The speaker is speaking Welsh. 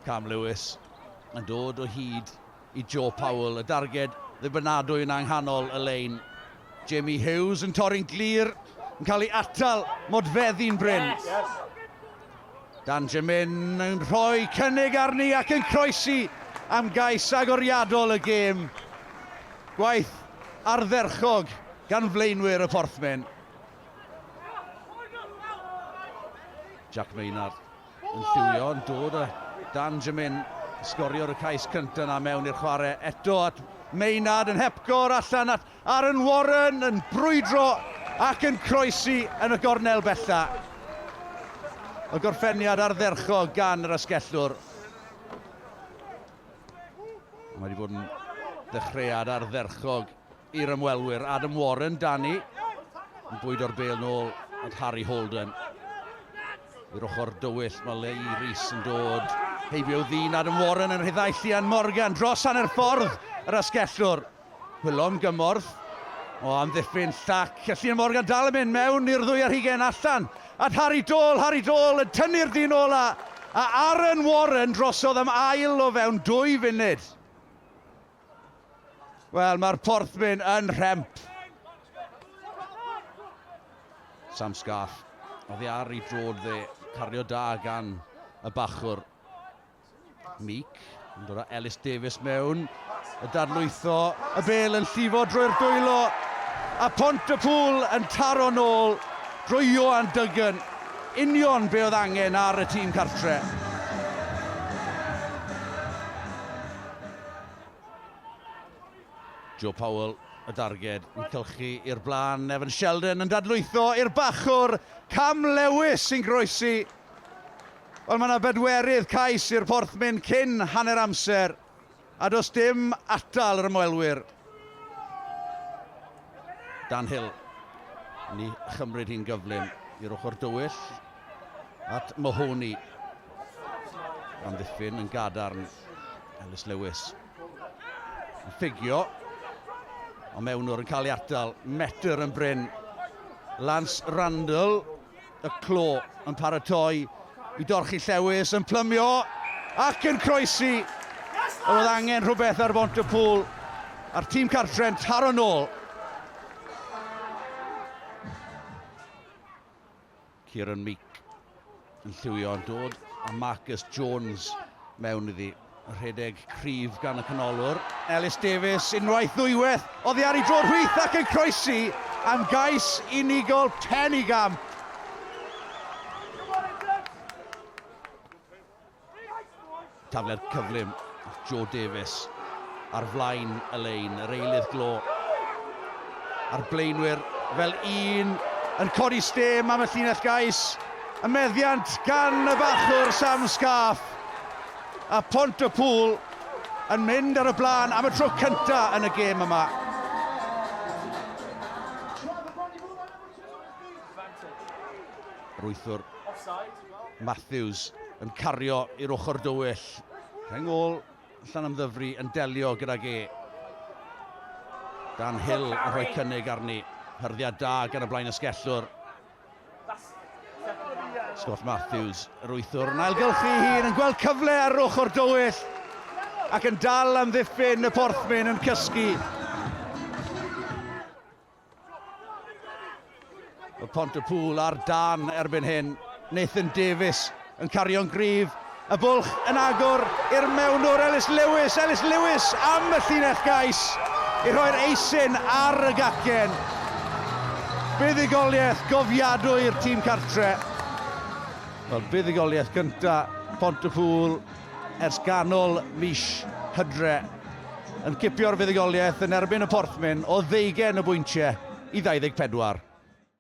Cam Lewis yn dod o hyd i Joe Powell, y darged ddibynadwy yna ynghanol y lein. Jamie Hughes yn torri'n glir, yn cael ei atal, modfeddi'n bryn. Yes. Yes. Dan Jemin yn rhoi cynnig arni ac yn croesi am gais agoriadol y gêm. Gwaith ardderchog gan flaenwyr y Porthmen. Jack Maynard yn lliwio yn dod a Dan Jamin sgorio'r y cais cyntaf yna mewn i'r chwarae eto at Maynard yn hepgor allan at Aaron Warren yn brwydro ac yn croesi yn y gornel bella. Y gorffeniad ardderchog gan yr asgellwr. Mae wedi bod yn ddechreuad ardderchog i'r ymwelwyr, Adam Warren, Danny, yn bwydo'r bel nôl at Harry Holden. I'r ochr dywyll, mae Lee Rees yn dod heibio ddyn Adam Warren yn rhyddhau Llian Morgan dros hanner ffordd yr asgellwr. Hwylon gymorth o amddiffyn llac. A Llian Morgan dal yn mynd mewn i'r ddwy ar hugen allan at Harry Dole. Harry Dole yn tynnu'r dyn ola a Aaron Warren drosodd am ail o fewn dwy funud. Wel, mae'r porthmyn yn rhemp. Sam Scarf. Oddi ar i drod dde. Cario da gan y bachwr. Meek yn dod â Ellis Davies mewn. Y darlwytho. Y bel yn llifo drwy'r dwylo. A pont y pŵl yn taro nôl drwy Johan Duggan. Union be oedd angen ar y tîm cartre. Joe Powell, y darged, yn cylchu i'r blaen. Evan Sheldon yn dadlwytho i'r bachwr. Cam Lewis sy'n groesi. Ond mae yna bedwerydd cais i'r porthmyn cyn hanner amser. A does dim atal yr ymwelwyr. Dan Hill. Ni chymryd hi'n gyflym i'r ochr dywyll. at Mahoney. Amddiffyn yn gadarn. Ellis Lewis. Yn ffugio. Ond mewnwr yn cael ei atal. Metr yn bryn. Lance Randall. Y clo yn paratoi i dorchi Llewis yn plymio ac yn croesi. Oedd angen rhywbeth ar bont y pŵl a'r tîm cartre'n taro'n ôl. Kieran Meek yn lliwio yn dod a Marcus Jones mewn iddi. Rhedeg cryf gan y canolwr. Ellis Davies unwaith ddwywaith oddi ar ei drod hwyth ac yn croesi am gais unigol Pennygam. Tafler cyflym, Joe Davies ar flaen y lein, yr eilydd glo. A'r blaenwyr fel un yn codi stêm am y llinell gais. Y meddiant gan y bachwr Sam Scarf. A Pont y Pŵl yn mynd ar y blaen am y tro cyntaf yn y gêm yma. Rwythwr Matthews yn cario i'r ochr dywyll. Rheng ôl Llanymddyfri yn delio gydag e. Dan Hill yn rhoi cynnig arni. Hyrddiad da gan y blaen ysgellwr. Scott Matthews, yr wythwr, yn ailgylchu ei hun, yn gweld cyfle ar ochr dywyll ac yn dal am ddiffyn y porthmyn yn cysgu. Mae Pontypŵl ar dan erbyn hyn. Nathan Davies yn cario'n gryf. Y bwlch yn agor i'r mewnwr Ellis Lewis. Ellis Lewis am y llinell gais i rhoi'r eisin ar y gacen. Buddugoliaeth gofiadwy i'r tîm cartre. Wel, buddugoliaeth gynta Pontypŵl ers ganol mis Hydre yn cipio'r fuddugoliaeth yn erbyn y Porthmyn o ddeugain o bwyntiau i 24.